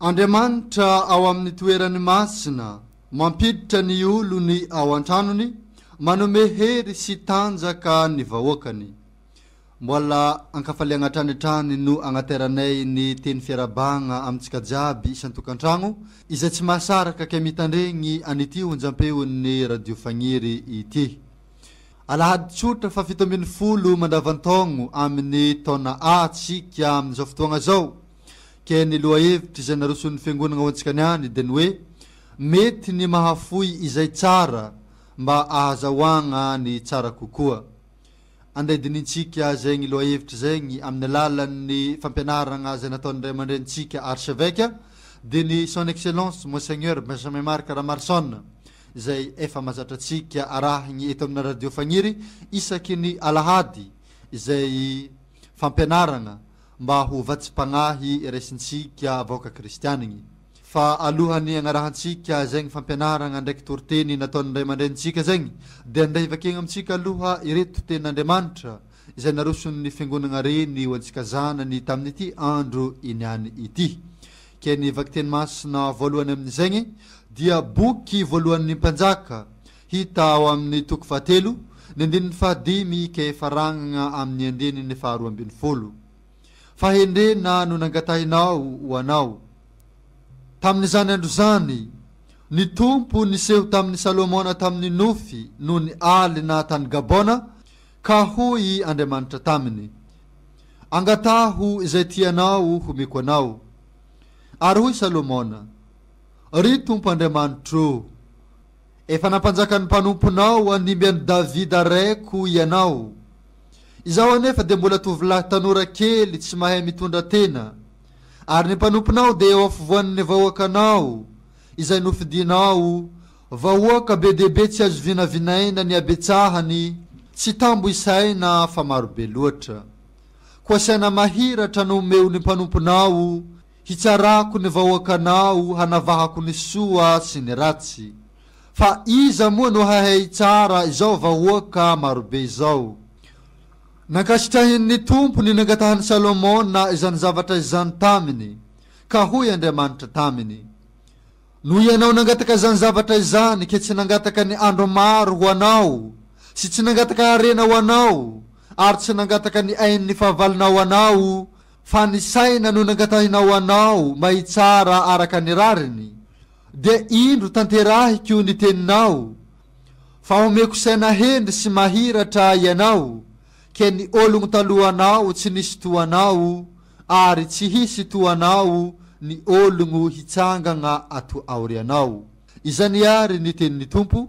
Andriamanitra ao amin'ny toerany masina, mampiditra ny olony ao an-tranony, manome hery sy tanjaka ny vahoakany. Mbola an-kafaliagna hatrany hatrany no agnateranay ny teny fiarabagna amintsika jiaby isan-tokantragno izay tsy mahasaraka kay mitandregny an'ity onjam-peon'ny Radio Fagniry ity. Alahady tsotra faha fito ambin'ny folo mandavan-taogno amin'ny taona A tsika amin'izao fotoagna zao. Ke ny lohahevitra izay naroson'ny Fiangonana ho antsika ny any dia ny hoe, mety ny mahafoy izay tsara mba ahazahoagna ny tsara kokoa. Andeha dinintsika zegny lohahevitra zegny amin'ny alalan'ny fampianaragna izay nataon'ny Ray aman-dRenintsika Archevêque dia ny Son Excellence Monseigneur Benjamin Marc Ramarson izay efa mazatra antsika arahigny eto amina Radio Fagniry isaky ny Alahady izay fampianaragna mba ho vatsim-pagnahy raisintsika vahoaka kristianigny. Fa alohan'ny agnarahantsika zegny fampianaragna ndraiky toriteny nataon'ny ray aman-drenintsika zegny, dia ndeha hivakiagna amintsika aloha ireto tenin'Andriamanitra izay naroson'ny fiangonagna reny ho antsika zanany tamin'ity andro iniany ity. Ke ny vakiteny masina voalohany amin'izegny dia Boky voalohan'ny Mpanjaka, Hita ao amin'ny toko fahatelo, ny andininy fahadimy ka hifarangana amin'ny andininy faharoa ambin'ny folo. Fahendrena no nangatahinao ho anao. Tamin'izany andro izany, ny Tompo niseho tamin'i Salomona tamin'ny nofy noho ny alina tany Gabona, ka hoy Andriamanitra taminy, Angataho izay tianao homeko anao. Ary hoy Salomona, Ry Tompo Andriamanitro! Efa nampanjakan'ny mpanomponao handimby an'i Davida raiko ianao. Izaho anefa dia mbola tovolahy tanora kely tsy mahay mitondra tena, ary ny mpanomponao dia eo afovoan'ny vahoakanao, izay nofidinao vahoaka be dia be tsy azo vinavinaina ny habetsahany, tsy tambo isaina fa marobe loatra. Koa saina mahiratra no omeon'ny mpanomponao. Hitsarako ny vahoakanao hanavahako ny soa sy ny ratsy. Fa iza moa no hahay hitsara izao vahoaka marobe izao? Nankasitrahin'ny Tompo ny nangatahan'i Salomona izany zavatra izany taminy, ka hoy Andriamanitra taminy, Noho ianao nangataka izany zavatra izany ke tsy nangataka ny andro maro ho anao sy tsy nangataka harena ho anao ary tsy nangataka ny ain'ny fahavalonao anao Fa ny saina no nangatahinao anao mba hitsara araka ny rariny, dia indro tanterahiko ny teninao, fa homeko saina hendry sy mahiratra ianao, ke ny ologno talohanao tsy nisy toa anao, ary tsy hisy toa anao ny ologno hitsangagna ato aorianao. Izany ary ny tenin'ny Tompo,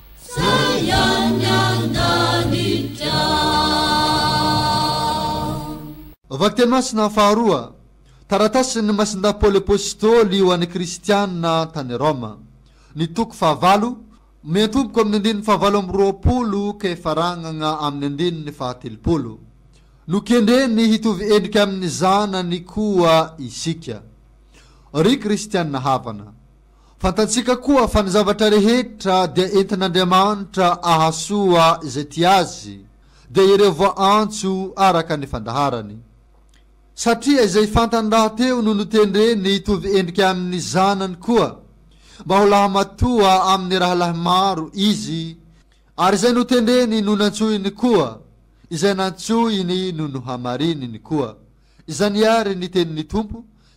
Vakiteny masina faharoa. Taratasin'ny Masindahy Paoly Apôstôly ho an'ny Kristianina tany Rôma. Ny toko fahavalo, miantomboka amin'ny andininy fahavalo amby roapolo ka ifaragnagna amin'ny andininy fahatelopolo. Nokendreny hitovy endrika amin'ny zanany koa isika, ry Kristianina havana. Fantatsika koa fa ny zavatra rehetra dia entin'Andriamanitra ahasoa izay tia Azy, dia ireo voaantso araka ny fandaharany. Satria izay fantany rahateo no notendreny hitovy endrika amin'ny Zanany koa, mba ho lahimatoa amin'ny rahalahy maro Izy, ary izay notendreny no nantsoiny koa, izay nantsoiny no nohamarininy koa. Izany àry ny tenin'ny Tompo.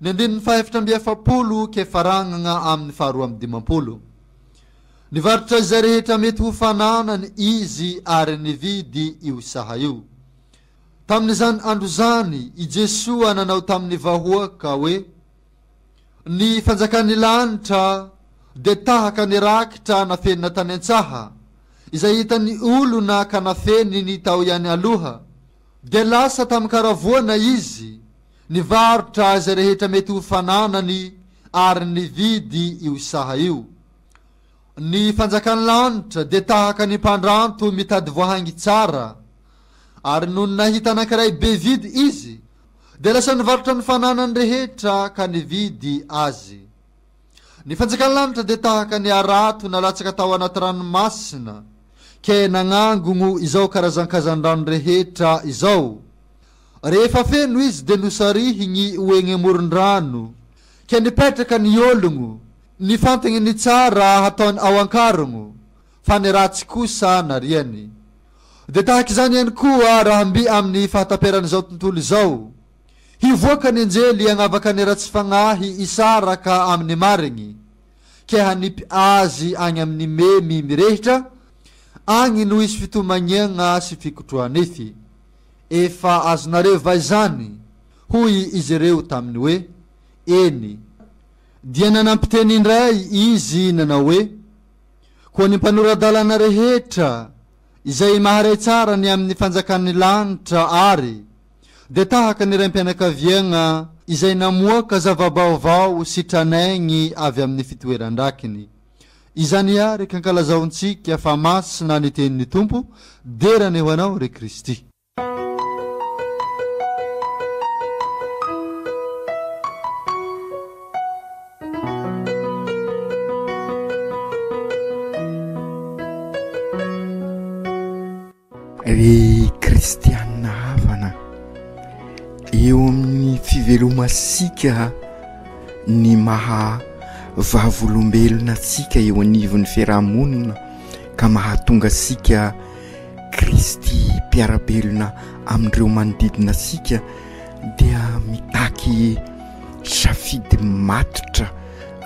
Ny andininy fahefatra amby efapolo ke faragnagna aminy faharoa amby dimampolo. Nivarotra izay rehetra mety ho fananany izy ary nividy io saha io. Tamin'izany andro izany i Jesoa nanao tamin'ny vahoaka hoe, Ny fanjakan'ny lanitra dia tahaka ny rakitra nafenina tany an-tsaha, izay hitan'ny olona ka nafeniny tao ihany aloha, Dia lasa tamin-karavoana izy, nivarotra izay rehetra mety ho fananany ary nividy io saha io. Ny fanjakan'ny lanitra dia tahaka ny mpandranto mitady voahangy tsara, ary nony nahita anankiray be vidy izy, dia lasa nivarotra ny fananany rehetra ka nividy azy. Ny fanjakan'ny lanitra dia tahaka ny harato nalatsaka tao anaty ranomasina, ke nagnangogno izao karazan-kazan-drano rehetra izao. Rehefa feno izy dia nosarihigny ho egny amoron-drano, ke nipetraka ny ologno, nifantagny ny tsara hataony ao an-karogno, fa ny ratsy kosa nariany. Dia tahaka izany ihany koa raha mby amin'ny fahataperan'izao tontolo izao. Hivoaka ny anjely hagnavaka ny ratsy fagnahy hisaraka amy ny marigny, ke hanipy azy agny amy ny memy mirehitra, agny no hisy fitomagniagna sy fikotroha-nify. Efa azonareo va izany? Hoy izy reo taminy hoe, Eny. Dia nanampi teny indray izy nanao hoe, Koa ny mpanora-dalana rehetra, izay maharay tsara ny amy ny fanjakan' ny lanitra ary, dia tahaka ny raim-pianakaviagna izay namoaka zava-baovao sy tranaigny avy amin'ny fitoeran-drakiny. Izany àry kankalazaontsika fa masina ny tenin'ny Tompo, dera ny ho anao ry Kristy. Ry kristianina havana, eo amin'ny fivelomantsika ny maha vavolombelona antsika eo anivon'ny fiaraha-monina ka mahatonga antsika Kristy mpiara-belona amin'ireo manodidina antsika dia mitaky safidy matotra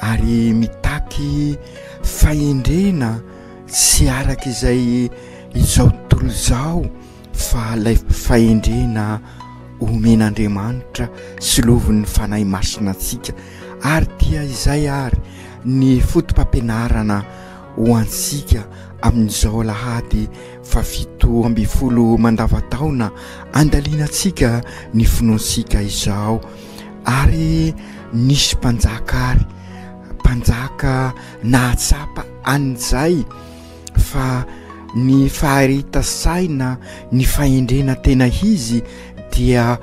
ary mitaky fahendrena tsy araka izay izao tontolo izao fa ilay fahendrena omen'Andriamanitra sy lovin'ny Fanahy Masina antsika ary dia izay ary ny foto-pampianarana ho antsika amin'izao alahady fahafito ambin'ny folo mandavan-taona andaliantsika ny finoantsika izao ary nisy mpanjaka ary mpanjaka Nahatsapa an'i Jay fa ny fahareta saina, ny fahendrena tena izy dia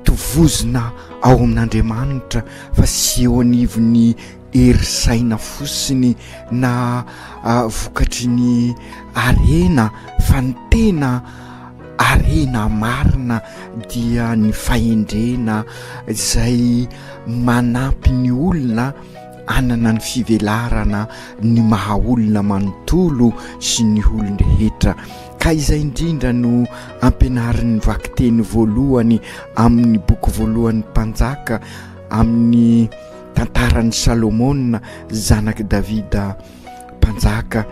tovozina ao amin'Andriamanitra fa tsy eo anivon'ny hery saina fotsiny na vokatry ny harena fa ny tena harena marina dia ny fahendrena izay manampy ny olona hanana ny fivelarana ny maha olona manontolo sy ny olon-drehetra ka izay indrindra no ampianarin'ny vakiteny voalohany amin'ny boky voalohan'ny Mpanjaka amin'ny tantaran'i Salomona zanak'i Davida mpanjaka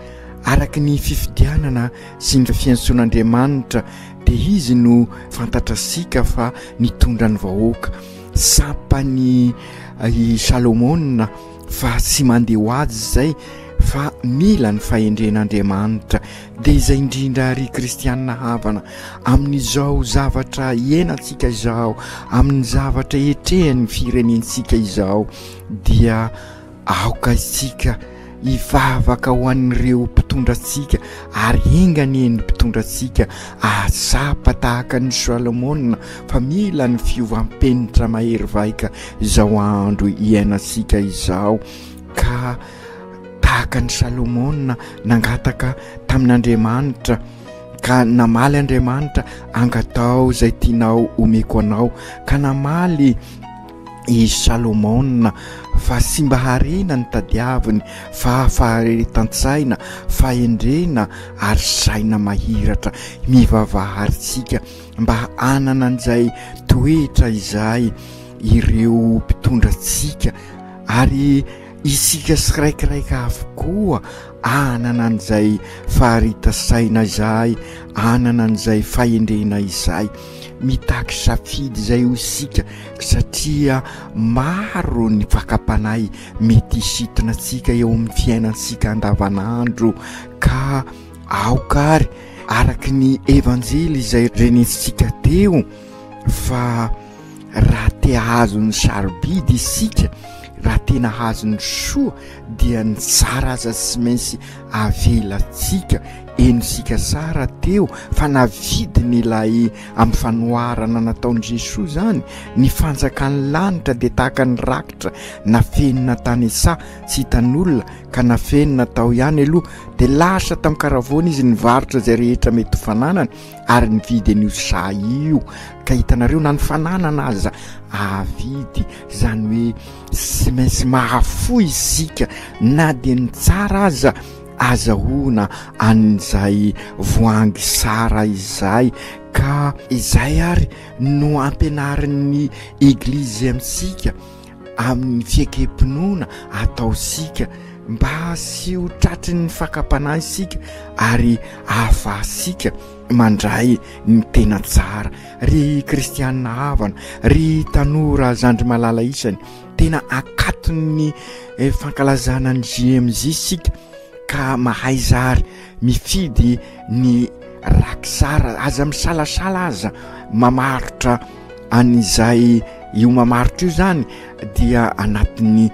araka ny fifidianana sy ny fiantsoan'Andriamanitra dia izy no fantatra sika fa nitondra ny vahoaka sampany i Salomona fa tsy mandeha ho azy izay fa mila ny fahendren'Andriamanitra dia izay indrindra ary kristianina havana amin'izao zavatra hiainantsika izao amin'ny zavatra etrehan'ny firenentsika izao dia Aoka isika hivavaka ho an'ireo mpitondra antsika, ary enga anie ny mpitondra antsika hahatsapa tahaka an'i Solomona fa mila ny fiovam-penitra mahery vaika izao andro iainantsika izao, ka tahaka an'i Solomona nangataka tamin'Andriamanitra, ka namaly Andriamanitra, Angataho izay tianao homeko anao, ka namaly. i Salomona fa tsy mba harena no tadiaviny fa faharetan-tsaina, fahendrena ary saina mahiratra. Mivavaha àry isika mba hanana an'izay toetra izay ireo mpitondra antsika ary Isika siraikiraika avokoa hanana an'izay faharita saina izay, hanana an'izay fahendrena izay. Mitaky safidy izay hoy isika satria maro ny fakam-panahy mety hisintona antsika eo amin'ny fiainantsika andavanandro ka aoka ary araka ny Evanjely izay renintsika teo fa raha te hahazo ny sarobidy isika raha tena hahazo ny soa dia ny tsara aza tsy maintsy avelantsika eny isika sara teo fa navidiny ilay amin'ny fanoharana nataon'i Jesoa izany ny fanjakan'ny lanitra dia tahaka ny rakitra nafenina tany an-tsaha tsy hitan'olona ka nafenina tao ihany aloha dia lasa tamin-karavoana izy nivarotra izay rehetra mety ho fananany ary nividy an'io saha io ka hitanareo na ny fananana aza ahavidy zany hoe sy maintsy mahafoy isika na dia ny tsara aza azahoana an'izay voahangy sara izay ka izay ary no ampianarin'ny eglizy amintsika amin'ny fiekem-pinoana ataontsika mba tsy ho tratry ny fakam-panahy isika ary ahafahantsika mandray ny tena tsara ry kristianina havana ry tanora zandry malala isany tena akaton'ny eh, fankalazana ny jmj isika ka mahay zary mifidy ny rakisara aza misalasala aza mamarotra an'izay io mamaritra io zany dia anatin'ny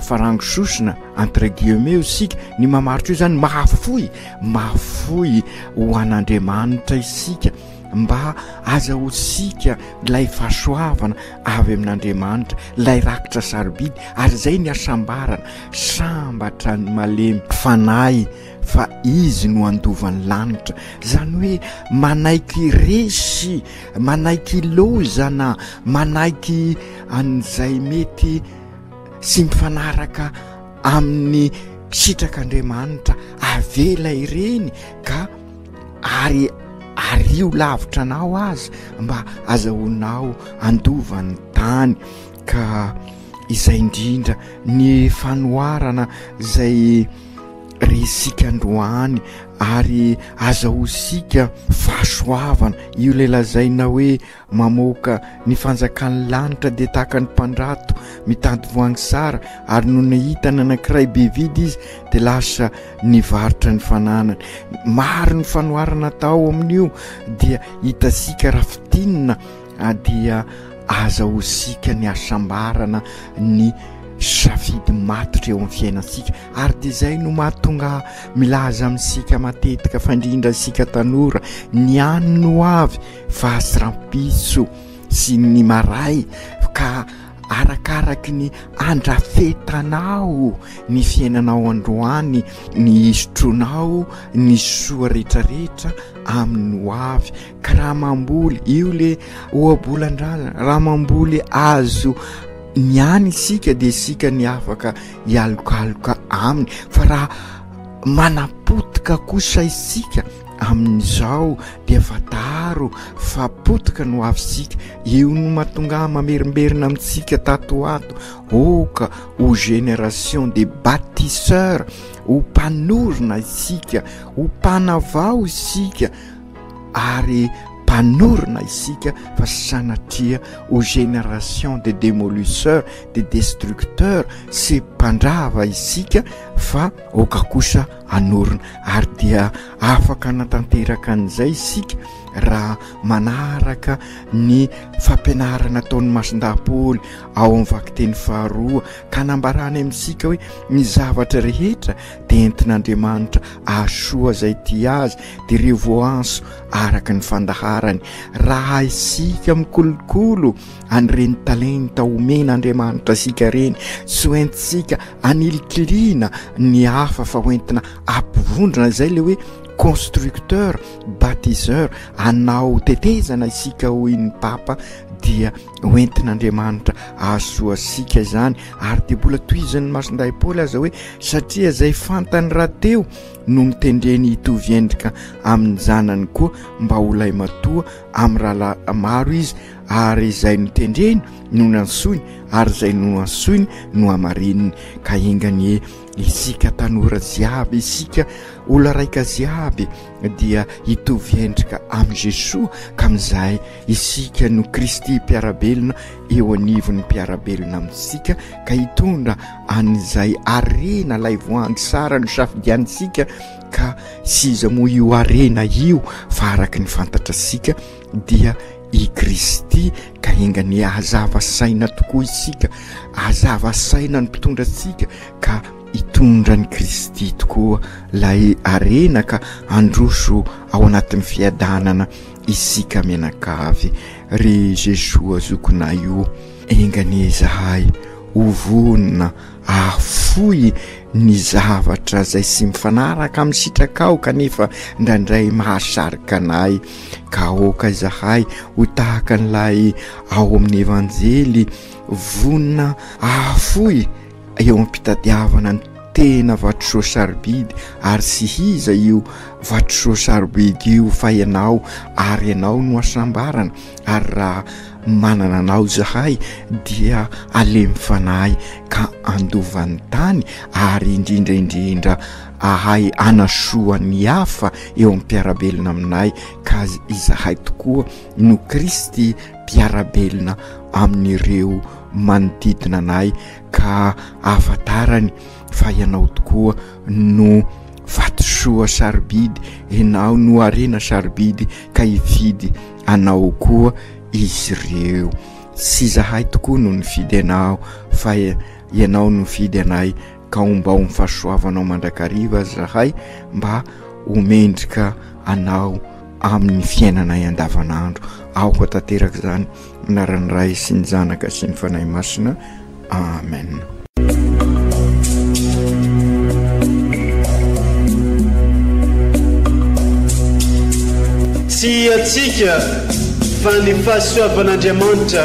farango sosona entre guillemets io isika ny mamaritra io zany mahafoy mahafoy ho an'andriamanitra isika mba aza ho sika ilay fahasoavana avy amin'andriamanitra ilay rakitra sarobidy ary izay ny hasambarana sambatra ny malemy fanahy fa izy no handova ny lanitra, izany hoe manaiky resy, manaiky ilaozana, manaiky an'izay mety tsy mifanaraka amin'ny sitrak'Andriamanitra, avela ireny ka ary ario lavitra anao aza mba azahoanao handova ny tany ka izay indrindra ny fanoharana izay ry isika androany ary azahoantsika fahasoavana, io ilay lazaina hoe mamoaka ny fanjakan'ny lanitra dia tahaka ny mpandrato mitady voangy sara ary no nahita ny anankiray be vidy izy dia lasa nivarotra ny fananany, maro ny fanoharana atao amin'io dia hitantsika raha fintinina A Dia aza ho siaka ny hasambarana ny safidy matotra eo amin'ny fiainantsika ary dia izay no mahatonga ahy milaza amintsika matetika fa indrindra isika tanora ny any no avy fa sy rampitso sy ny maray ka arakaraky ny andrafetanao ny fiainanao androany ny isotronao ny soa rehetrarehetra amin'ny ho avy ka raha mamboly io le ohabolan-drazana raha mamboly azo ny any isika dia isika ny afaka hialokaloka aminy fa raha manapotika kosa isika amin'izao dia fantaro fa potika no avy isika io no matonga mamerimberina amintsika tato ho ato oka ho génération de bâtisseur ho mpanorina isika ho mpanavao isika ary mpanorina isika fa sanatria ho génération des démolisseurs, des destructeurs sy mpandrava isika fa aoka kosa hanorina ary dia afaka hanatanteraka an'izay isika raha manaraka ny fampianarana ataon'ny masin-dahapôly ao amin'ny vakiteny faharoa ka nambarany amintsika hoe ny zavatra rehetra dia entin'Andriamanitra azo soa izay tia azy dia ireo voanso araka ny fandaharany raha isika mikolokolo an'ireny talenta omen'Andriamanitra isika ireny tsy ho entintsika anilikiliana ny hafa fa ho entina ampivondrona izay le hoe constructeur bâtisseur anao tetezana isika hoy ny papa dia ho entin'Andriamanitra hahasoa antsika izany ary dia mbola tohizin'ny masindahy Paoly aza hoe satria izay fantany rahateo no nitendreny hitovy endrika amin'ny zanany koa mba ho lay matoa amin'ny rahalahy maro izy ary izay nitendreny no nansoiny ary izay no ansoiny no amarininy ka enganie isika tanora jiaby isika olona raika jiaby dia hitovy endrika amin'i Jesoa ka amin'izay Isika no Kristy mpiara-belona eo anivon'ny mpiara-belona amintsika, ka hitondra an'izay harena ilay voahangy sara nosafidianintsika, ka sy iza moa io harena io fa araka ny fantatratsika dia i Kristy, ka enga anie hazava saina tokoa isika, hazava saina ny mpitondra antsika ka hitondra an'i Kristy tokoa ilay harena ka handroso ao anatin'ny fiadanana Isika mianakavy ry Jesoa zokinay o, enga anie izahay ho vonona hahafoy ny zavatra izay tsy mifanaraka amin'ny sitrakao kanefa indraindray mahasarika anay, ka aoka izahay ho tahaka an'ilay ao amin'ny Evanjely vonona hahafoy. eo am-pitadiavana ny tena vatosoa sarobidy ary tsy hiza io vatosoa sarobidy io fa ianao ary ianao no asambarana ary raha manana anao zahay dia alemy fanahy ka andovan'ny tany ary indrindra indrindra ahay anasoa ny hafa eo am-piarabelona aminay ka izahay tokoa no Kristy mpiara-belona amin'ireo manodidina anay ka ahafantarany fa ianao tokoa no vatosoa sarobidy, ianao no harena sarobidy ka hifidy anao koa izy ireo. Tsy izahay tokoa no nifidy anao fa ianao no nifidy anay. ka ombao ny fahasoavanao mandrakariva zahay mba ho mendrika anao amin'ny fiainanay andavanandro aoka tanteraka izany anaran'ny ray sy ny zanaka sy ny fanahy masina amen tsy hiatsika fa ny fahasoavan'andriamanitra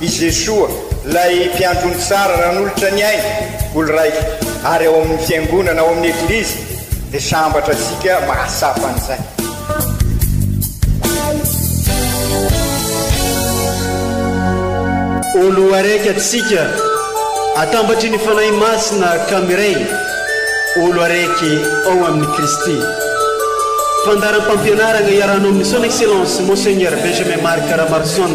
I Jesoa, ilay Mpiandrony tsara nanolotra ny ainy ho lraiko ary ao amin'ny Fiangonana, ao amin'ny Eglizy, dia sambatra antsika mahatsapa an'izay. Olo araiky atsika, atambatry ny Fanahy Masina ka miray, olo araiky ao amin'i Kristy. Fandaharam-pampianaragna iarahanao amin'ny Son Excellence Monseigneur Benjamin Marc Ramarison.